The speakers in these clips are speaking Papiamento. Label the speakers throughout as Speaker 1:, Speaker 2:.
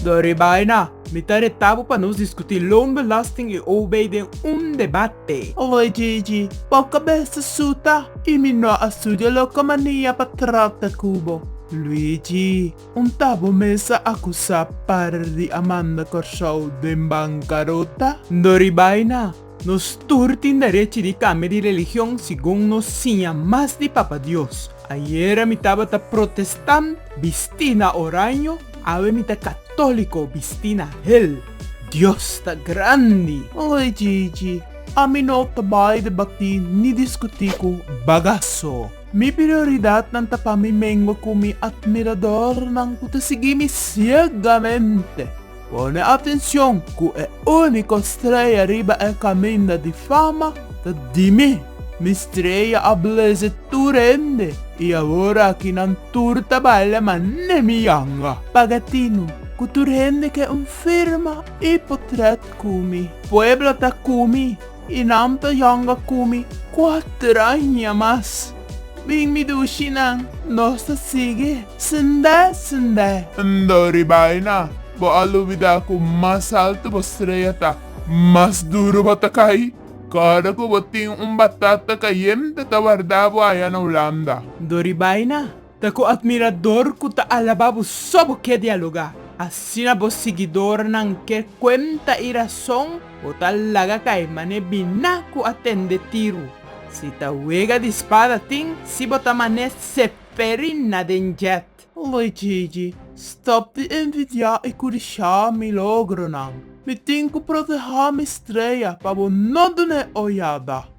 Speaker 1: Don Ribaina, mi ta reta bo pa nos diskutí loonbelasting i OB den un debate. Oye Gigi, bo ka bes ta suta i mi no a studia loke mania pa trakta ku bo. Luigi, un ta bo mes a akusá par di Amanda Kòrsou den bankarota? Don Ribaina, Nos tur tin derechi di kambia di religion segun nos siña mas di Papa Dios. Ayera mi tabata protestant, bisti na oraño, awe mi ta katóliko, bisti na hel. Dios ta grandi! Oye Gigi, ami no ta bai debatí ni diskutí ku bagaso. Mi prioridatnan ta pa mi mengua ku mi atmiradornan ku ta sigui mi siegamente. Pone atencion cu e unico streya riba e caminda di fama ta di mi. Mi streya a bleze tur hende y awor aki nan tur ta baila ma ne mi yanga. Paga tinu cu tur hende ke un firma y potret cu mi. Pueblo ta cu mi. I nan ta yonga ku mi kuater aña mas. Bin mi dushi nan, nos ta sigui sendé sendé. Ndo riba ei na, bo a lubidá ku mas altu bo streya ta, mas duru bo ta kai. Kòrda ku bo tin un batata kayente ta wardá bo aya na Ulanda. Ndo riba ei na. Ta ku atmirador ku ta alabá bo so bo ke dialogá. Asina bo siguidornan ke kuenta i rason bo ta laga kai mane biná ku a tende tiru. Si ta wega di spada tin si bo ta mane seperi na den jet. Aloy Gigi, stop di envidiá i kurishá mi logronan. Mi tin ku protehá mi strea pa bo no dun'é oyada.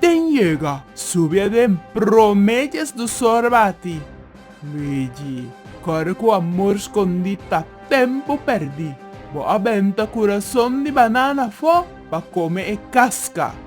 Speaker 1: Ten yega subi aden prome dies dos ora bati. Luigi, Kore ku amor skondí ta tempu pèrdí. Bo a benta kurason di banana afó pa kome e kaska.